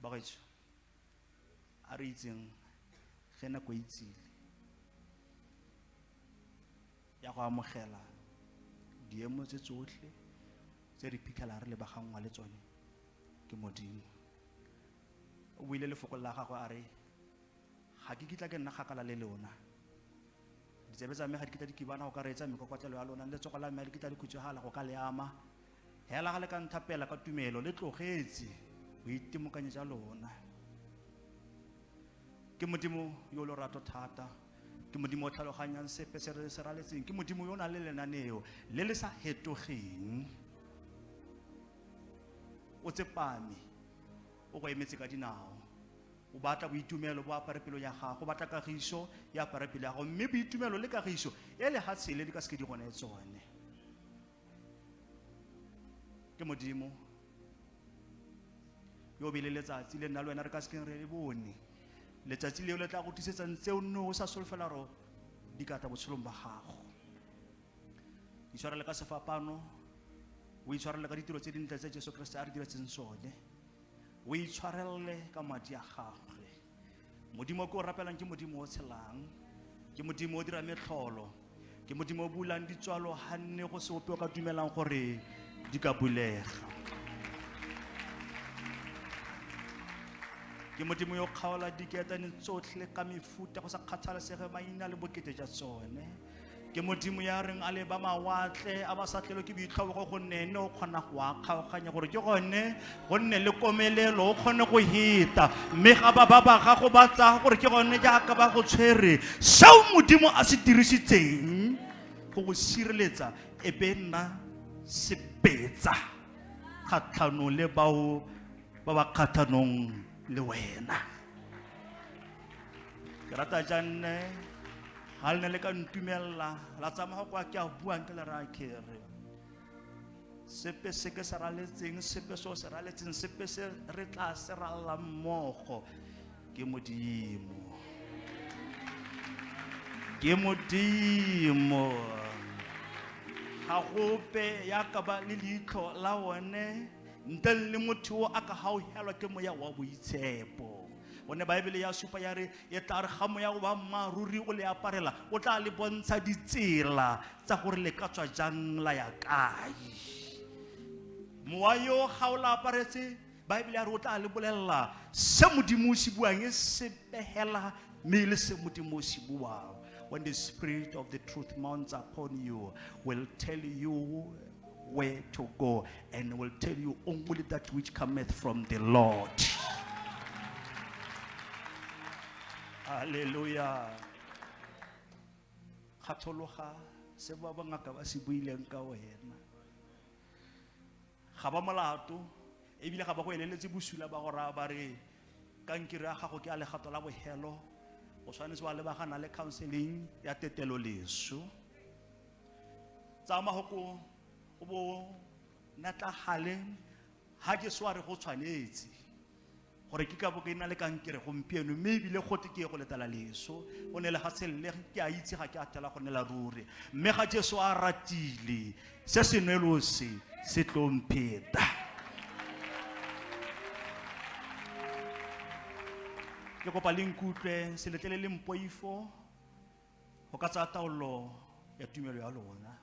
bagaetsho a re itseng ge nako e itsile ya go amogela diemo tse tsotlhe tse re phitlhela re lebagangwa le tsone ke modimo o buile lefoko la gagwe a re ga ke kitla ke nna kgakala le lona ditsebe tsa me ga di kitla di kibana go ka reetsa mekokotlelo ya lona le letsogo la me ga di kitla di khutswegala go ka le ama Hela ga le ka nthapela ka tumelo le tlogetse boitemokanyo ja lona. Ke Modimo yo lorato thata. Ke Modimo o tlhaloganyang sepe se re se raletseng. Ke Modimo yo o nang le lenaneo le le sa hetogeng. O tsepame o go emetse ka dinao o batla boitumelo bo apare pelo ya gago o batla kagiso e apare pelo ya gago mme boitumelo le kagiso e lehatshele di ka seke di gone tsone ke modimo yo be le letsatsi le nna le wena re ka sekeng re le bone letsatsi leo le tla go tlisetsang tse o nne o sa solofela ro di ka tla botshelong ba gago itshwarele ka sefapano o itshwarele ka ditiro tse dintle tse jesu keresete a re diretseng sone o itshwarele ka madi a gagwe modimo o ke o rapelang ke modimo o tshelang ke modimo o dira metlholo ke modimo o bulang ditswalo ga nne go se ope o ka dumelang gore di ka bulega ke modimo yo kgaola diketane tsotlhe ka mefuta go sa kgathalesege maina le bokete jwa tsone ke modimo ya reng a leba mawatle a ba sa tlelo ke boitlhobogo gonne ene o kgona go a kgaoganya gore ke gone gonne le komelelo o kgone go heta mme ga ba ba ba gago ba tsaya gore ke gone jaaka ba go tshwere seo modimo a se dirisitseng go go sireletsa e be nna sepetsa kgatlhanong le bao ba ba kgatlhanong le wena ke rata janne ga le ne le ka ntumelela la tsamaya kwa ke a buang ke le raya kere sepe se ke se raletseng sepe se o se raletseng sepe se re tla se ralelang mmogo ke modimo ke modimo ga gope ya ka ba le leitlho la one ntle le motho o a ka gauhelwa ke moya wa boitshepo one baebele ya supa ya re e tla re ga moya o ba mmaaruri o le aparela o tla le bontsha ditsela tsa gore le ka tswa jang la ya kae mowa yo ga o la aparetse baebele ya re o tla le bolelela se modimo o se buang e se pegela mme e le se modimo o se buang when the spirit of the truth mounts upon you will tell you where to go and will tell you only that which cometh from the Lord. Hallelujah. Kgathologa se ba bangaka ba se buileng ka wena. Ga ba molato ebile ga ba go eleletse bosula ba go raya ba re kankere ya gago ke a legato la bohelo o tshwanetse wa lebagana le counseling ya tetelo leso tsaya mahoko o bo natlagale ga ke sware go tshwanetse gore ke ka bo ke na le kankere gompieno mme ebile gote ke ye go letala leso o ne le ga selele ke a itse ga ke a tela go nela ruri mme ga jesu a ratile se senwelo se se tlompheta ke kopa le nkutlwe seletlele le mpoifo go ka tsaya taolo ya tumelo ya lona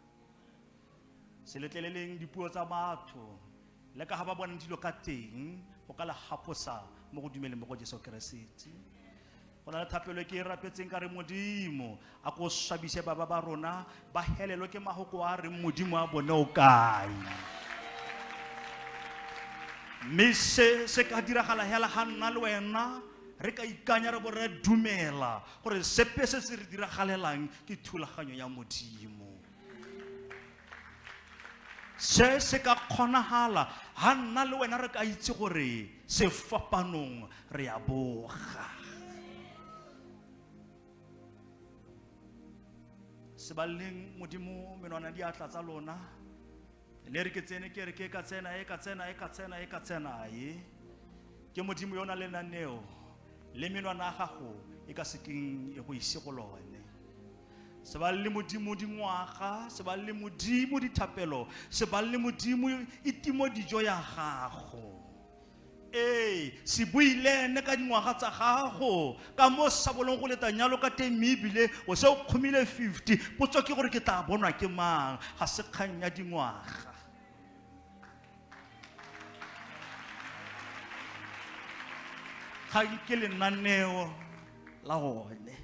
se letleleleng dipuo tsa batho le ka ga ba bonang dilo ka teng go ka le gaposa mo go dumeleng mo go jesu keresete go na le thapelo ke e rapetseng ka re modimo a ko swabise baba ba rona ba helelwe ke magoko a reng modimo a bone o kae mme se se ka diragala hela ga nna le wena re ka ikanya re bo re dumela gore sepe se se re diragalelang ke thulaganyo ya modimo se se ka kgonagala ga nna le wena re ka itse gore sefapanong re ya boga sebaleng modimo menwana diatla tsa lona ne re ke tsene ke re ke ka tsena e ka tsena e ka tsena e ka tsena e ke modimo yona le naneo le menwana a gago e ka sekeng e go ise go lone se ba le modimo dingwaga se ba le modimo dithapelo se ba le modimo itimo dijo ya gago Ee, se bue le ene ka dingwaga tsa gago ka mo se sa bolong go leta nyalo ka teng mme ebile o se o kgomile 50 potso ke gore ke tla bonwa ke mang ga se kgang ya dingwaga ga nke lenaneo la gone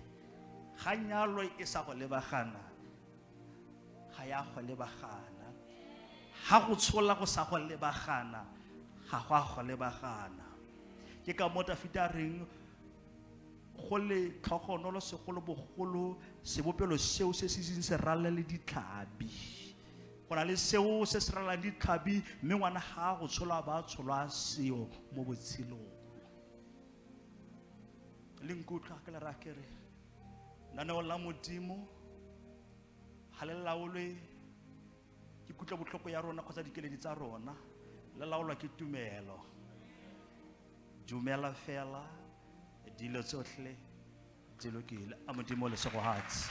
ga nyalo e sa go lebagana ga ya go lebagana ga go tshola go sa go lebagana ga go a go lebagana ke ka mo dafita a reng go le tlhogonolo segolobogolo sebopelo seo se se seng se rala le ditlhabi go na le seo se se ralang ditlhabi mme ngwana ga go tsholwa ba tsholwa seo mo botshelong le nkutlwa ke le rakere naneo la modimo ga le laolwe ke kutlo botlhoko ya rona kgotsa dikeledi tsa rona le laolwa ke tumelo dumela fela dilo tsotlhe di lokile a modimo lesegogatsi